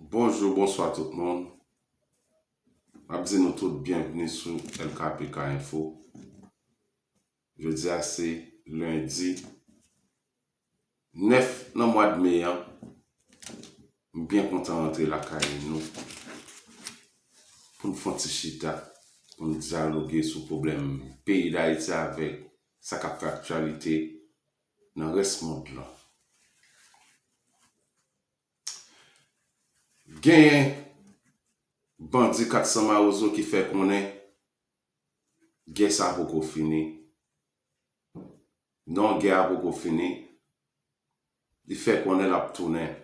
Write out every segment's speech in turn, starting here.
Bonjou bonswa tout moun map di nou tout byenvni sou LKPK info jodia se lendi 9 nan mwad me an m byen kontan rantre lakay nou poun fon ti chita poun dyaloge sou pwoblèm peyi dayiti avèk sa kap fè aktyalite nan rès mond lan. Genyen bandi 400 mawozo ki fè konnen gè sa poko fini. Non gè a poko fini, li fè konnen lap tounen.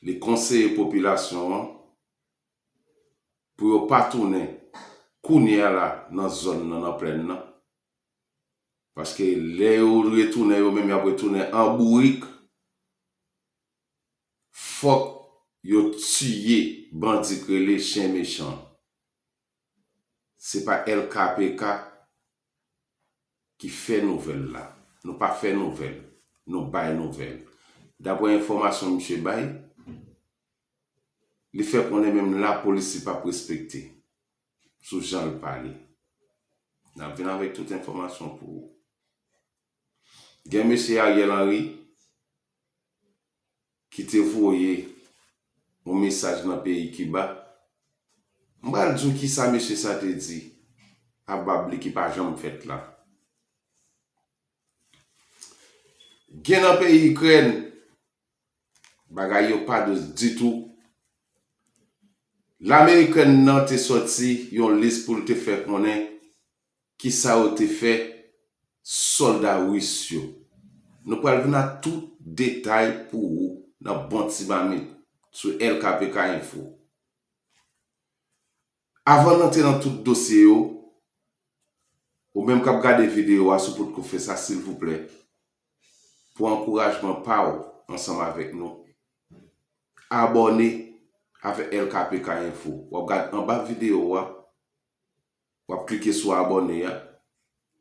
Li konseye popilasyon an pou yo pa tounen kounye a la nan zòn nan, nan plèn nan. Paske lè yo retounen yo menm yap retounen an bourik fòk yo tiye bandi k rele chen mechan se pa LKPK ki fè nouvèl la nou pa fè nouvèl nou bay nouvèl daprè enfòmasyon misye bay li fè konnen menm lapolis li pap respekte sou jan l pale. N ap vin avèk tout enfòmasyon pou ou. Gen mesye Ariel Henry ki te voye yon mesaj nan peyi Kiba. M pral di w kisa mesye sa te di a bab li ki pa janm fèt la. Gen nan peyi Ikrèn. Bagay yo pa dous ditou. Lame Ikrèn nan te sòti yon lis pou l te fè konnen ki sa yo te fè sòlda ris yo. Nou pral vin ak tout detay pou ou nan bon ti mamit sou LKPK Info. Avan n antre nan tout dosye yo, ou menm k ap gade videyo a si w potko fè sa silvouplè pou ankourajman pa w ansanm avèk nou abòne avèk LKPK info w ap gad anba videyo a w ap klike sou abòne a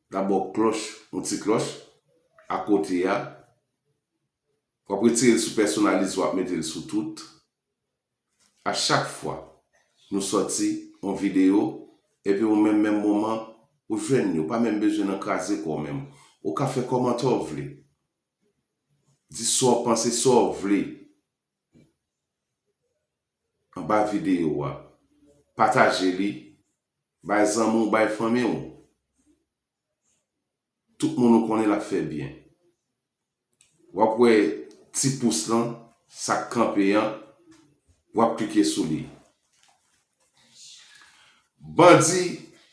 dabò klòch yon ti klòch akote a w ap retire l sou pèsonalize w ap mete l sou tout A chak fwa nou sòti yon video epi ou menm menm moman ou jwenn li ou pa menm bezwen nan kraze kòw menm ou ka fè kòmantè w vle di sa w panse sa w vle anba video a pataje li bay zanmi w bay fanmi w. Tout moun ou konnen lap fè byen. Wap wè ti pous lan sak kanpe an wap klike sou li. Bandi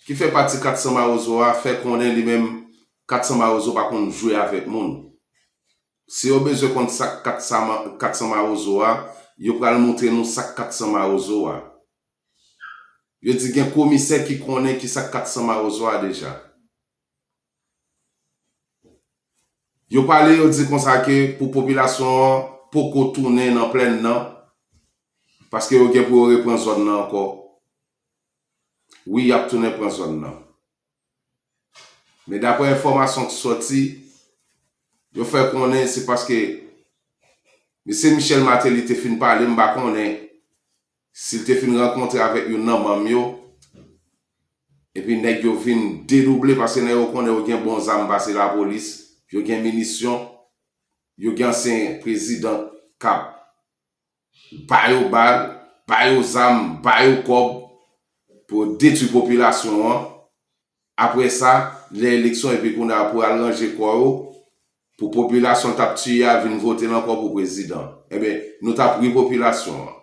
ki fè pati 400 mawozo a fè konnen li menm 400 mawozo pa konn jwe avèk moun. Si yo bezwen konn sak 400 mawozo a yo pral moutre nou sak 400 mawozo a. Yo di gen komisè ki konnen kisa 400 mawozo a deja. Yo pale yo di konsa ke pou popilasyon an poko tounen nan plèn nan paske yo gen pou yo repran zòn nan ankò. Wi yap tounen pran zòn nan. Men daprè enfòmasyon ki sòti, yo fè konnen se paske Mesye Michel Martelly te fin pale m pa konnen. Si l te fin rankontre avèk youn nan manm yo, epi nèg yo vin dedouble paske nèg yo konnen yo gen bon zam pase lapolis, yo gen minisyon, yo gen ansyen prezidan k ap ba yo bal, ba yo zam, ba yo kòb pou yo detwi popilasyon an, Apre sa, lè eleksyon epi kounye a pou al ranje kò yo, pou popilasyon l t ap tiye a vin vote l ankò pou prezidan. Enben, nou t ap ri popilasyon an.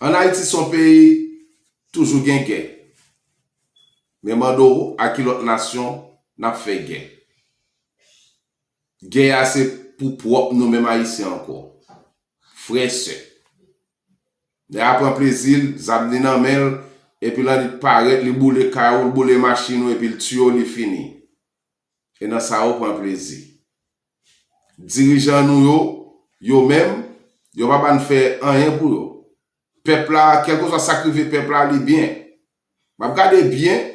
An Ayiti se yon peyi toujou gen gè. Men mande w a ki lòt nasyon n ap fè gè. Gè a se pou pwòp nou menm Ayisyen ankò. Frè, sè. Nèg la pran plezi l, zam li nan men l, epi lan li t parèt li boule kay ou, l boule machin ou epi l tiye w li fini. E nan sa yo pran plezi. Dirijan nou yo, yo menm, yo pa ba n fè anyen pou yo. Pèp la, kèlkeswa sa k rive pèp la li byen. M ap gade byen,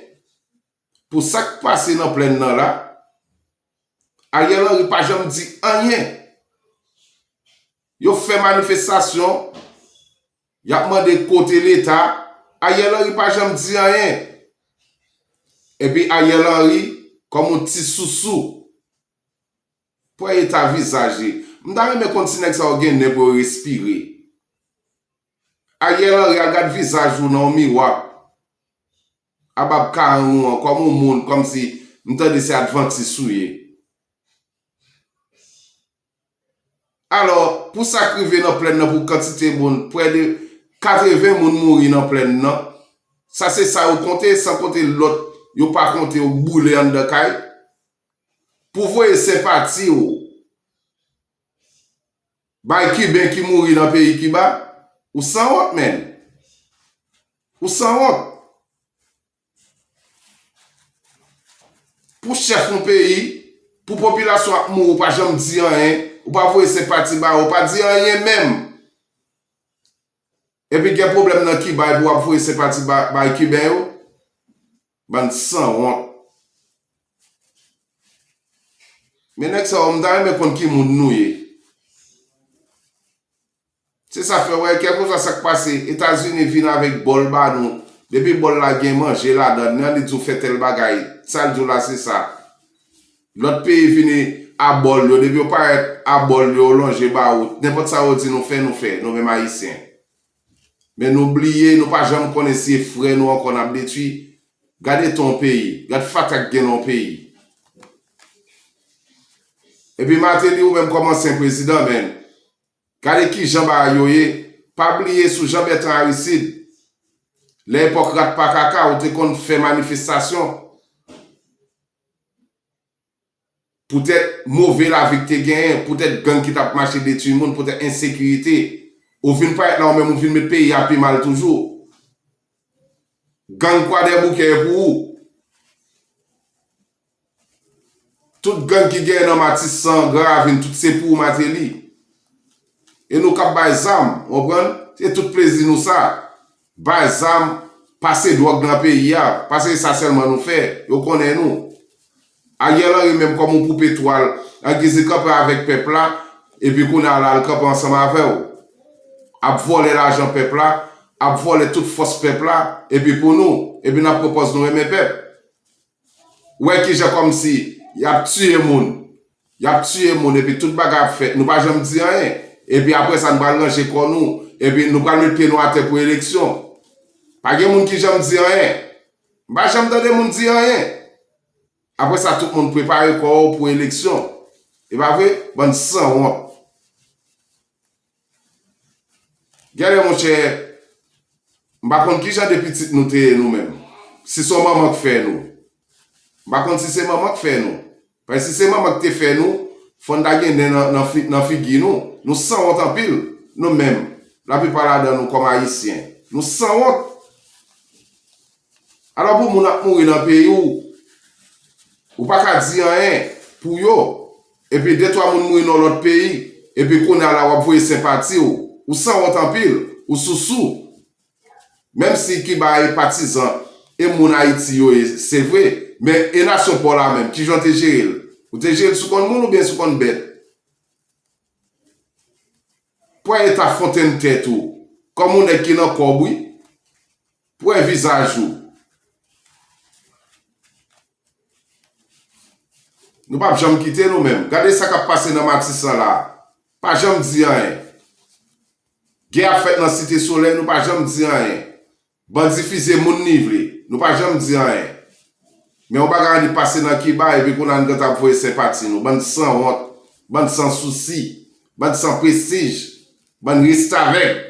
Pou sak pase nan plenn nan la, Ariel Henry pa janm di anyen. Yo fè manifestasyon, yap mande kote leta, Ariel Henry pa janm di anyen. Epi Ariel Henry kòm yon ti sousou. Pwen eta vizaj li. M ta renmen konn si nèg sa yo gen nen pou yo respire. Ariel Henry al gad vizaj ou nan yon miwa. Aba p karann ou an kòm ou moun kòm si m tande se advantis ou ye. Alò pou sak rive nan plèn nan pou kantite moun prè de 80 moun mouri nan plèn nan sa se sa yo konte san konte lòt yo pa konte yo k boule anndan kay pou voye senpati ou Bay kiben ki mouri nan peyi kiba ou sanwont menn ou sanwont pou chèf yon peyi pou popilasyon ap mouri ou pa janm di anyen ou pa voye senpati ba yo ou pa di anyen menm epi gen pwoblèm nan kiba epi wap voye senpati bay kiben yo. Bann sanwont. Men nèg sa yo m ta renmen konn ki moun nou ye. Se sa fè wè kèlkeswa sak pase etazini vin avèk bòl ba nou depi bòl la gen manje ladan nan li di w fè tèl bagay sa l di w la se sa lòt peyi vini a bòl yo depi yo parèt a bòl yo yo lonje ba ou nenpòt sa yo di nou fè nou fè nou menm ayisyen Men nou bliye, nou pa janm konnen si e frè nou ankò nap detwi. Gad eta yon peyi, gad fatra ki gen nan yon peyi. Epi Martelly ou menm kòm ansyen prezidan men, gade kijan bagay yo ye, pa bliye sou Jean Bertrand Aristide, lè epòk rat pa kaka ou te konn fè manifestasyon. poutèt move lavi ki te genyen, poutèt gang ki t ap mache detui moun, poutèt ensekirite. Ou vin parèt la ou menm ou vin met peyi a pi mal toujou. Gang Kwadèboukè e pou ou. Tout gang ki genyen nan Matisan, Gran Ravin, tout se pou ou Mateli. E nou k ap bay zam, ou konprann? Se tout plezi nou sa. Bay zam, pase dwòg nan peyi a, pase e sa sèlman nou fè, yo konnen nou. Ariel Henry menm kòm yon poupe twal, an giz li kanpe avèk pèp la, epi kounye a la li kanpe ansanm avè w. Ap vòlè lajan pèp la, ap vòlè tout fòs pèp la, epi pou nou, epi n ap pran pòz nou renmen pèp. Wè kijan kòmsi yap tiye moun yap tiye moun epi tout bagay ap fèt nou pa janm di anyen epi aprè sa nou pral ranje kò nou epi nou pral met pye nou atè pou eleksyon pa gen moun ki janm di anyen m pa janm tande moun di anyen aprè sa tout moun prepare kò ou pou eleksyon e pa vre bann sanwont. Genlè monchè m pa konn kijan de pitit nou te ye nou menm si son manman k fè nou m pa konn si se manman k fè nou paske si se manman k te fè nou fòn ta gen nen nan figi nou nou sanwont anpil nou menm laplipa ladan nou kòm ayisyen nou sanwont. Alò pou moun ap mouri nan peyi w, ou pa ka di anyen pou yo, epi de twa moun mouri nan yon lòt peyi, epi kounye a la w ap voye senpati w, ou sanwont anpil, ou sousou. Menm si Kiba e patizan e moun Ayiti yo ye, se vre, men e nasyon pa w la menm, kijan w te jere l? Ou te jere l sou kòn moun oubyen sou kòn bèt? Pran eta fontenn tèt ou kòm yon nèg ki nan kòb wi. Pwè vizaj ou. Nou pap janm kite nou menm. Gade sa kap pase nan matisan la. Pa janm di anyen. Gè ap fèt nan site solèy nou pa janm di anyen. Bandi fizye moun ni vle. Nou pa janm di anyen. Men yon bagay annik pase nan kiba epi kounye a nou gentan ap voye senpati nou. Bann san wont. Bann san sousi. Bann san prestij. Bann restavèk.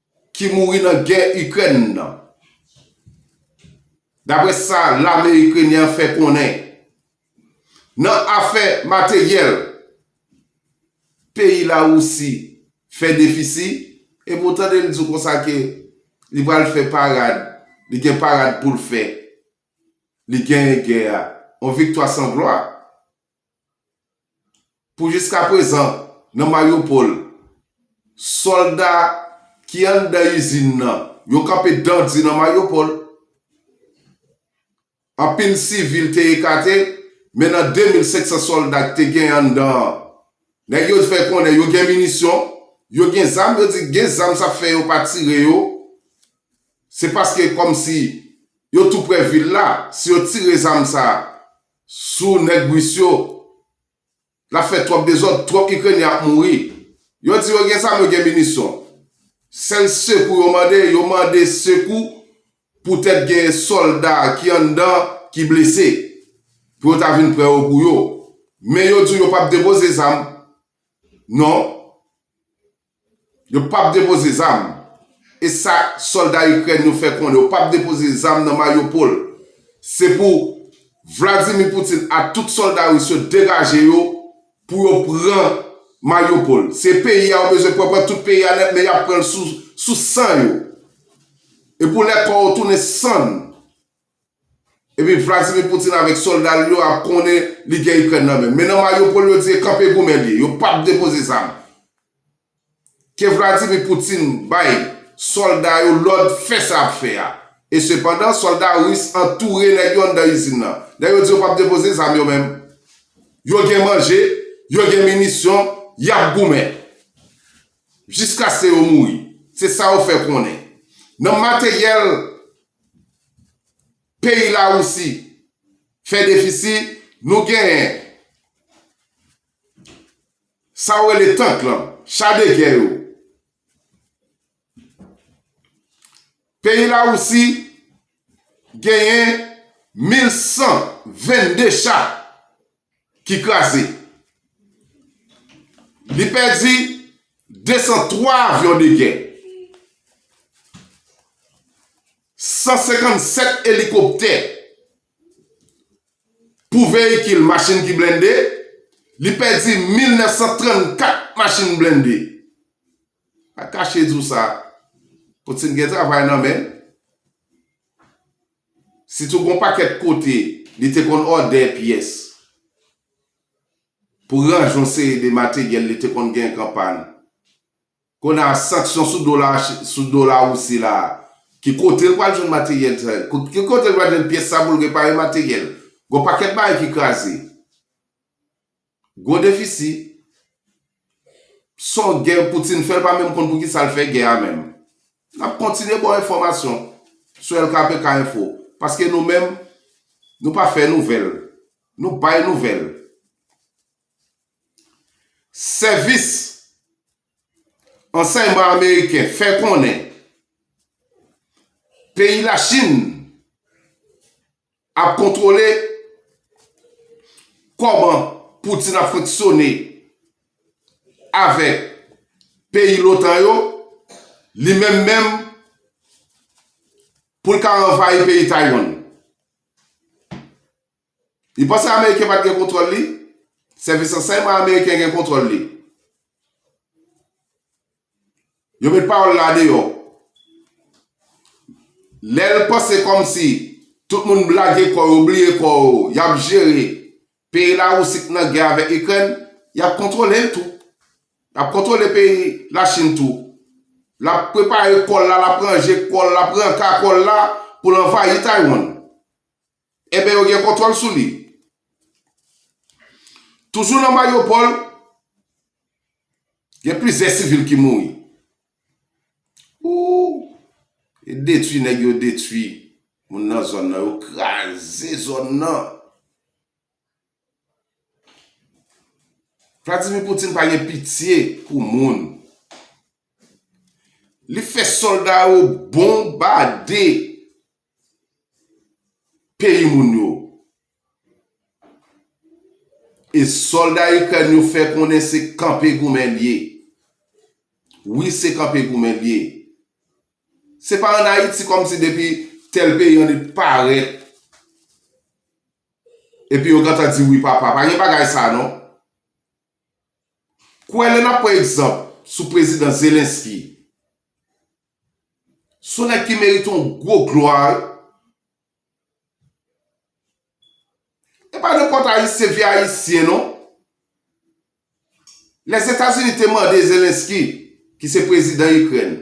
ki mouri nan gè Ikrèn nan. Dapre sa lame Ikrenyen an fè konnen, nan afè materyèl, peyi Lawousi fè defisi, e pou w tande l di w konsa ke li pral fè parad, li gen parad pou l fè, li genyen gè a, yon viktwa san glwa. Pou jiskaprezan, nan Mariupol, sòlda ki anndan izin nan, yo kanpe dan di nan Mariupol. Anpil sivil te ekate, men nan 2,500 sòlda ki te genyen anndan an, nèg yo fè konnen yo gen minisyon, yo gen zam, yo di gen zam sa fè yo pa tire yo, se paske kòmsi yo toupre vil la, si yo tire zam sa, Sou nèg Russe yo. Nap fè twòp dezòd, twòp Ikrenyen ap mouri. Yo di yo gen zam, yo gen minisyon. Sèl sekou yo mande, yo mande sekou poutèt gen sòlda ki anndan ki blese. Pou yo ta vin pran yo pou yo. Men yo di w yo pap depoze zam. Non. Yo pap depoze zam. E sa solda Ikrèn yo fè konnen yo pap depoze zam nan Mariupol. Se pou Vladimir Putin ak tout solda Ris yo degaje yo pou yo pran Mariupol. Se peyi a yo bezwen pran, pran tout peyi a nèt men yap pranl sou san yo. E pou lè kò yo tounen sann. Epi Vladimir Poutine avèk solda l yo ap konnen li gen Ikrèn nan men. Men nan Mariupol yo di e kanpe goumen l ye. Yo p ap depoze zam. Ke Vladimir Poutine bay solda yo lòd fè sa y ap fè a. E sepandan, solda ris antoure nèg yo anndan izin nan. Lè yo di yo p ap depoze zam yo menm. Yo gen manje, yo gen minisyon, y ap goumen. Jiskaske yo mouri. Se sa yo fè konnen. Nan materyèl peyi Lawousi fè defisi, nou genyen sa yo rele tank lan, cha de gè yo. Peyi Lawousi genyen 1122 cha. ki kraze. Li pèdi 203 avyon de gè, 157 elikoptè pou veyikil, machin ki blende, li pèdi 1934 machin blende. Pa kache di w sa, Poutine gen travay nan men l. Sitou gon pakèt kote li te konn òdè pyès pou ranje yon seri de materyèl li te konn gen k an pàn. Kounye a sanksyon sou do la sou do Larisi la a, ki kote l pral jwenn materyèl sa yo? Ki kote l pral jwenn pyès sa pou l repare materyèl? Gon pakèt bagay ki kraze. Gwo defisi, Son gè Poutine fè l pa menm konn pou kisa l fè gè a menm. N ap kontinye ba w enfòmasyon sou LKPK Info paske nou menm nou pa fè nouvèl, nou bay nouvèl. Sèvis Ansèyman Ameriken fè konnen peyi Lachin. Ap kontwole kòman Putin ap fonksyone avèk peyi lotan yo, li menm menm pou l ka anvayi peyi Taiwan. Li panse ameriken pat gen kontwòl li, sèvis ransèyman ameriken gen kontwòl li. Yo met pawòl la deyò. Lè l panse kòmsi tout moun blage kò yo, bliye kò yo, y ap jere peyi Lawousi k nan gè avèk Ikrèn, y ap kontwole l tou. Y ap kontwole peyi Lachin tou. L ap prepare kò l la, l ap ranje kò l, l ap renka kò l la pou l anvayi Taywann. Enben yo gen kontwòl sou li. Toujou nan Mariupol, gen plizyè sivil ki mouri. Ooh! E detwi nèg yo detwi moun nan zòn nan, yo kraze zòn nan. Vladimir Poutine pa gen pitye pou moun. Li fè sòlda yo bonbade. peyi moun yo. E sòlda Ikrèn yo fè konnen se kanpe goumen l ye. Wi se kanpe goumen l ye. Se pa an Ayiti kòm si depi tèl peyi an li parèt epi yo gentan di wi papa. Pa gen bagay sa non. Kwè lè n ap pran egzanp sou prezidan Zelensky. Son nèg ki merite yon gwo glwa wi. E pa nenpòt ayisyen vye ayisyen non. Lèzetazini te mande Zelensky ki se prezidan Ikrèn.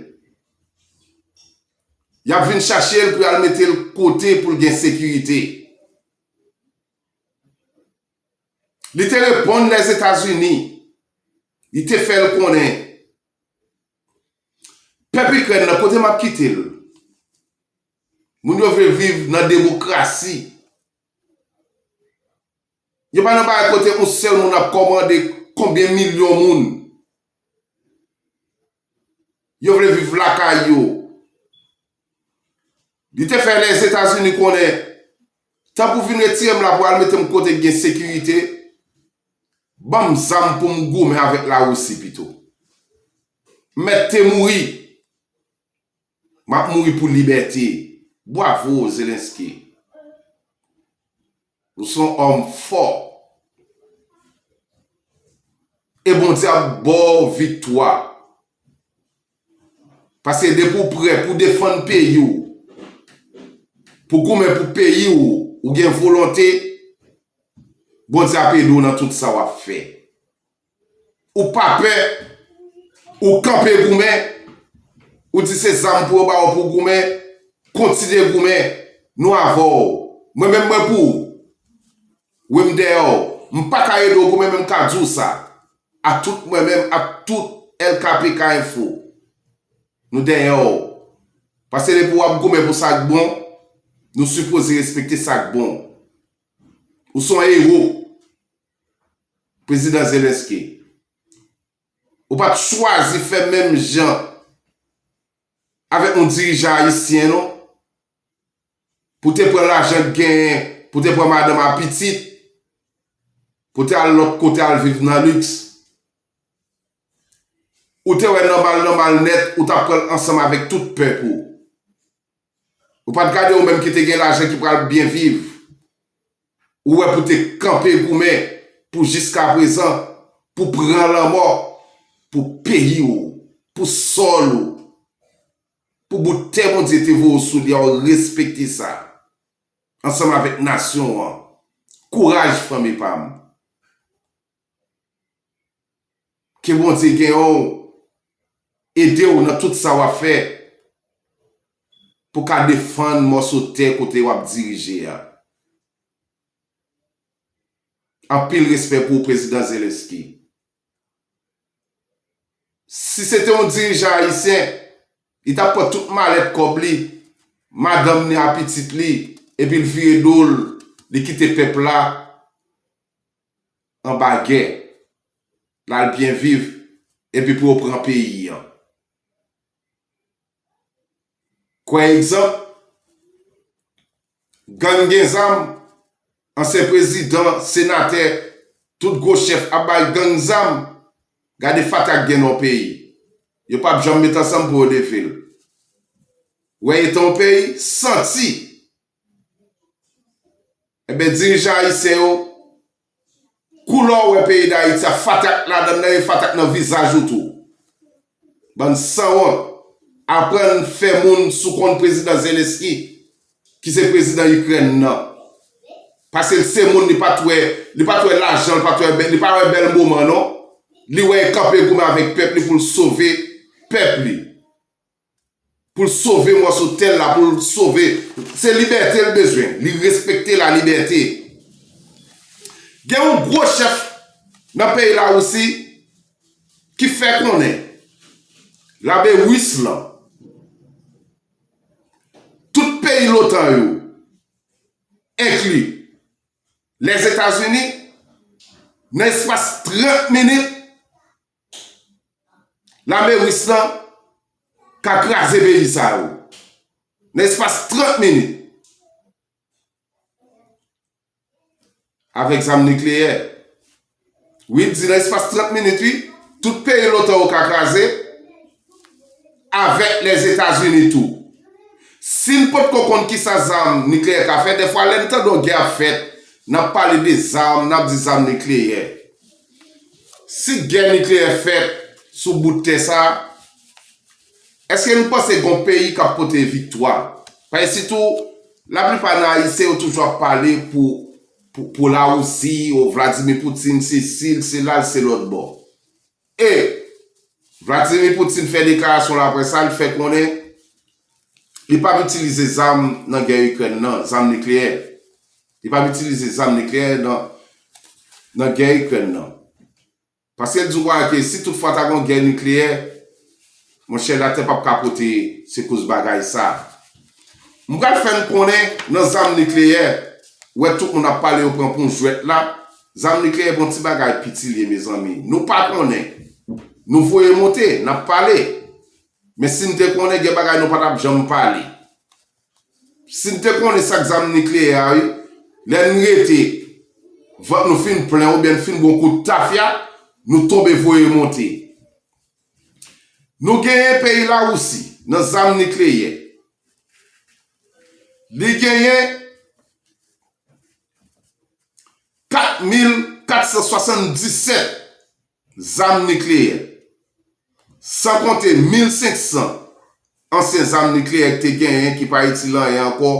Y ap vin chache l pou y al mete l kote pou l gen sekirite. Li te reponn Lèzetazini. Li te fè l konnen. Pèp Ikrèn nan kote map kite l. Moun yo vle viv nan demokrasi. Yo pa nan bagay kote yon sèl moun ap kòmande konbyen milyon moun. Yo vle viv lakay yo. Li te fè Lèzetazini konnen, Tan pou vin retire m la pou al mete m kote k gen sekirite, ban m zam pou m goumen avèk Larisi pito. M mèt te mouri. M ap mouri pou libète. Bwavo, Zelensky. Ou son homme fort. E Bondye ap baw viktwa. Paske depi ou prè pou defann peyi w, pou goumen pou peyi w, ou gen volonte, Bondye ap ede w nan tout sa wap fè. Ou pa pè, ou kanpe goumen, ou di se zam pou yo ba ou pou w goumen, kontinye goumen, nou avè w. Mwen menm mwen pou ou. Wi m dèyè w. M pa ka ede w goumen men m ka di w sa, a tout mwen menm ak tout LKPK Info, nou dèyè w. Paske depi w ap goumen pou sa k bon, nou sipoze respekte sa k bon. Ou se yon ewo. Prezidan Zelensky, ou pa t chwazi fè menm jan avèk yon dirijan ayisyen non, pou te pran lajan k genyen, pou te pran madanm a pitit, pou te al lòt kote al viv nan liks. Ou te wè nòmal nòmal nèt ou t ap pran l ansanm avèk tout pèp ou. Ou pat gade ou menm ki te gen lajan ki pral byen viv ou wè pou te kanpe goumen pou jiska prezan pou pran lanmò pou peyi ou pou sòl ou pou bout tè Bondye te voye w sou li a ou respekte sa ansanm avèk nasyon an kouraj fanmi pam. Ke Bondye gen w ede w nan tout sa w ap fè pou w ka defann mòso tè kote w ap dirije a. Anpil respè pou w Prezidan Zelensky. Si se te yon dirijan Ayisyen, li t ap pran tout malèt kòb li, madanm ni a pitit li epi l vire do l, li kite pèp la anba gè, lal byen viv epi pou yo pran peyi an. Kwè egzanp, gang gen zam, ansyen prezidan, senatè, tout gwo chèf ap bay gang zam, gade fatak gen nan yon peyi. Yo pap janm met ansanm pou yo leve l. Wè eta yon peyi, santi Enben dirijan ayisyen yo koulè w wè peyi dayiti a fatak ladann nan e fatak nan vizaj ou tou. Bann sanwont aprann fè moun sou kont prezidan zelensky ki se prezidan ikrèn nan. Paske l se moun li pat wè li pat wè lajan l pat wè li pa wè bèl moman non li wè e kanpe goumen avèk pèp li pou l sove pèp li. Pou l sove mòso tè l la, pou l sove. Se libète l bezwen. Li respekte lalibète. Gen yon gwo chèf nan peyi Lawousi ki fè konnen lame ris lan, tout peyi lotan yo, enkli Lèzetazini, nan espas 30 minit, Lame Ris la ka kraze peyi sa yo nan espas 30 minit avèk zam nikleyè. Wi, di nan espas 30 minit wi, tout peyi lotan yo ka kraze avèk Lèzetazini tou. Si n potko konn kisa zam nikleyè ka fè, dèfwa lè n tande yon gè ap fèt, n ap pale de zam, n ap di zam nikleyè. Si gè nikleyè fèt sou bout tè sa, èske nou panse gon peyi k ap pote viktwa? Paske sitou laplipa nan Ayisyen yo toujou ap pale pou Lawousi, o Vladimir Poutine sesi, l sela, l se lòtbò. E Vladimir Poutine fè deklarasyon laprès sa, l fè konnen li p ap itilize zam nan gè Ikrèn nan, zam nikleyè. Li pap itilize zam nikleyè nan nan gè Ikrèn nan. Paske l di w kwa ke si tout fwa ta gon gè nikleyè, monchè latè pap kapote se koz bagay sa. M pral fè n konnen nan zam nikleyè, wè tout moun ap pale yo pran pou yon jwèt la, zam nikleyè bon ti bagay piti l ye mezanmi. Nou pa konnen. Nou voye monte, n ap pale. Men si n te konnen gen bagay nou pa tap janm pale. Sim te konnen sak zam nikleyè a wi lè n rete vant nou fin plen oubyen n fin bon kout tafya nou tonbe voye monte nou genyen peyi lawousi nan zam nikleyè li genyen 4477 Zam nikleyè. San konte 1500 ansyen zam nikleyè ki te genyen ki pa itil anyen ankò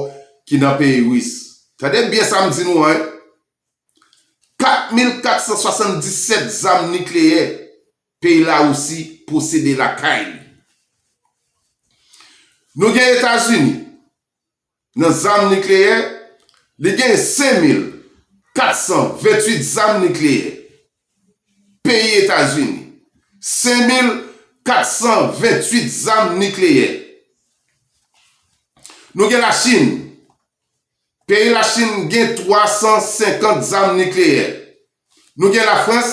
ki nan peyi Ris. Tande byen sa m di nou an wi. 4477 zam nikleyè peyi Larisi posede lakay li. Nou gen Etazini. Nan zam nikleyè, li gen 5,428 zam nikleyè. Peyi Etazini, 5,428 zam nikleyè. Nou gen Lachin, peyi Lachin gen 350 zam nikleyè. Nou gen Lafrans,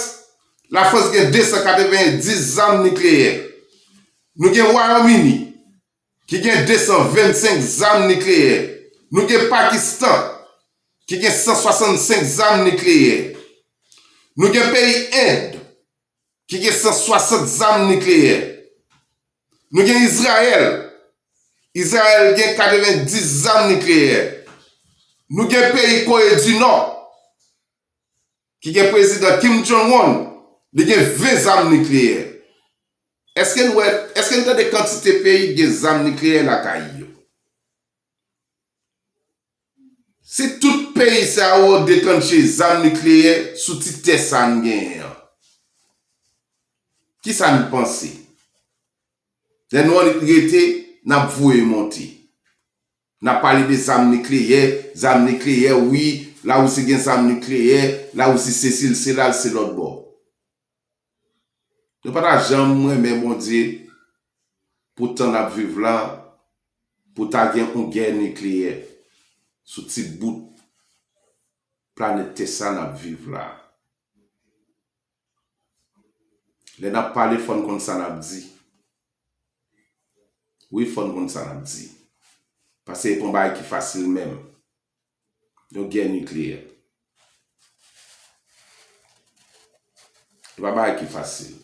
Lafrans gen 290 zam nikleyè. Nou gen Wayòm Ini, ki gen 225 zam nikleyè, nou gen Pakistan, ki gen 165 zam nikleyè, nou gen peyi End, ki gen 160 zam nikleyè, nou gen Izrayèl, Izrayèl gen 90 zam nikleyè, nou gen peyi Kore di Nò, Ki gen prezidan Kim Jong Un, li gen 20 zam nikleyè. Eske n wè, eske n tande kantite peyi ki gen zam nikleyè lakay yo? Si tout peyi sa yo detantje zam nikleyè sou ti tè sa n genyen an, ki sa n panse? Lè nou annik rete, n ap voye monte. Nap pale de zam nikleyè, zam nikleyè wi, la Russie gen zam nikleyè, la Russie sesi l sela l se lòt bò. Nou pa ta janm renmen Bondye pou tan nap viv la pou ta gen yon gè nikleyè sou ti bout planèt tè sa nap viv la. Lè nap pale fòn konn sa nap di wi fòn konn sa nap di pase e pa yon bagay ki fasil menm yon gè nikleyè e pa bagay ki fasil.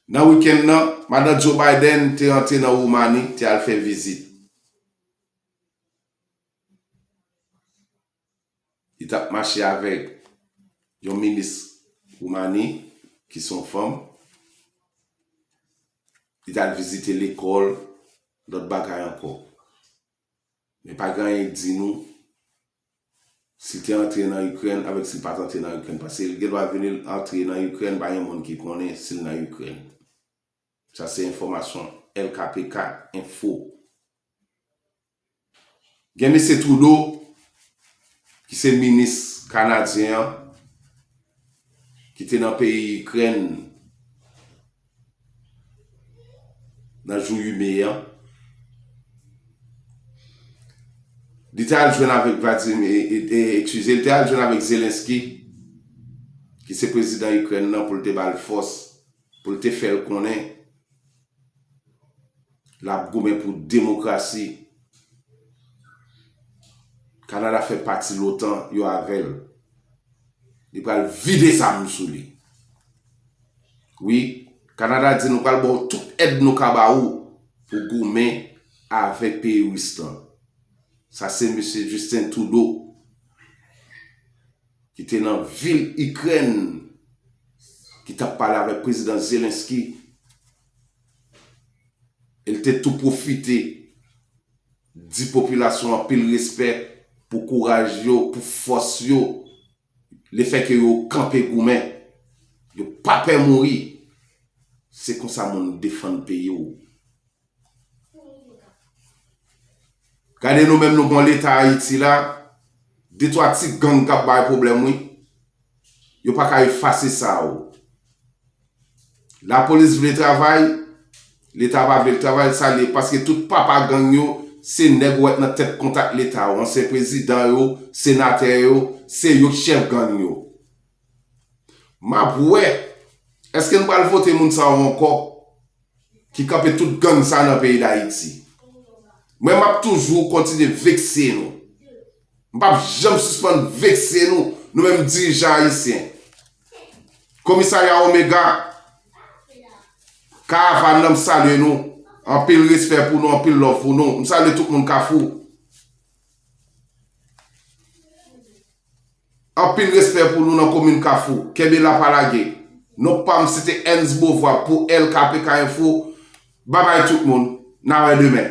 Nan wikenn nan, Madan Joe Biden te antre nan Woumani te al fè vizit. Li t ap mache avèk yon minis Woumani ki se yon fanm. Li t al vizite lekòl, lòt bagay ankò. Men pa gen anyen ki di nou si l te antre nan Ikrèn avèk si l pa t antre nan Ikrèn. Paske l gendwa vini l antre nan Ikrèn, pa gen moun ki konnen si l nan Ikrèn. Sa se enfòmasyon lkpk. Enfo. Gen Mesye Trudeau ki se minis kanadyen an ki te nan peyi Ikrèn nan jou 8 me an. Li te al jwenn avèk Vladimir, ekskize, li te al jwenn avèk Zelensky ki se prezidan Ikrèn nan pou l te ba l fòs, pou l te fè l konnen L ap goumen pou demokrasi. Kanada fè pati lotan, yo avè l. Li pral vide zam sou li. Wi, Kanada di nou pral ba w tout èd nou ka ba ou pou goumen avèk peyi ris lan. Sa se Misye Justin Trudeau ki te nan vil Ikrèn ki t ap pale avèk Prezidan Zelensky e l te tou pwofite di popilasyon an anpil respè pou kouraj yo, pou fòs yo, lefèke yo kanpe goumen, yo pa pè mouri. Se konsa moun defann peyi w. Gade nou menm nou gon leta ayiti la, de twa ti gang kap bay pwoblèm wi. Yo pa ka efase sa o. La polis vle travay, leta pa vle l travay, sa l ye paske tout papa gang yo se nèg wè nan tèt kontak leta o, ansyen prezidan yo, senatè yo, se yo k chèf gang yo. Map wè, eske nou pral vote moun sa yo ankò? ki kanpe tout gang sa nan peyi dayiti mwen map toujou kontinye vekse nou m pap janm sispann vekse nou nou menm dirijan ayisyen komisarya omega karavan nan m salye nou anpil respè pou nou anpil love pou nou m salye tout moun kafou. Anpil respè pou nou nan komin kafou. Kenbe la pa lage. Non pam se te Ernst Beauvoir pou LKPK info. Babay tout moun. Na wè demen.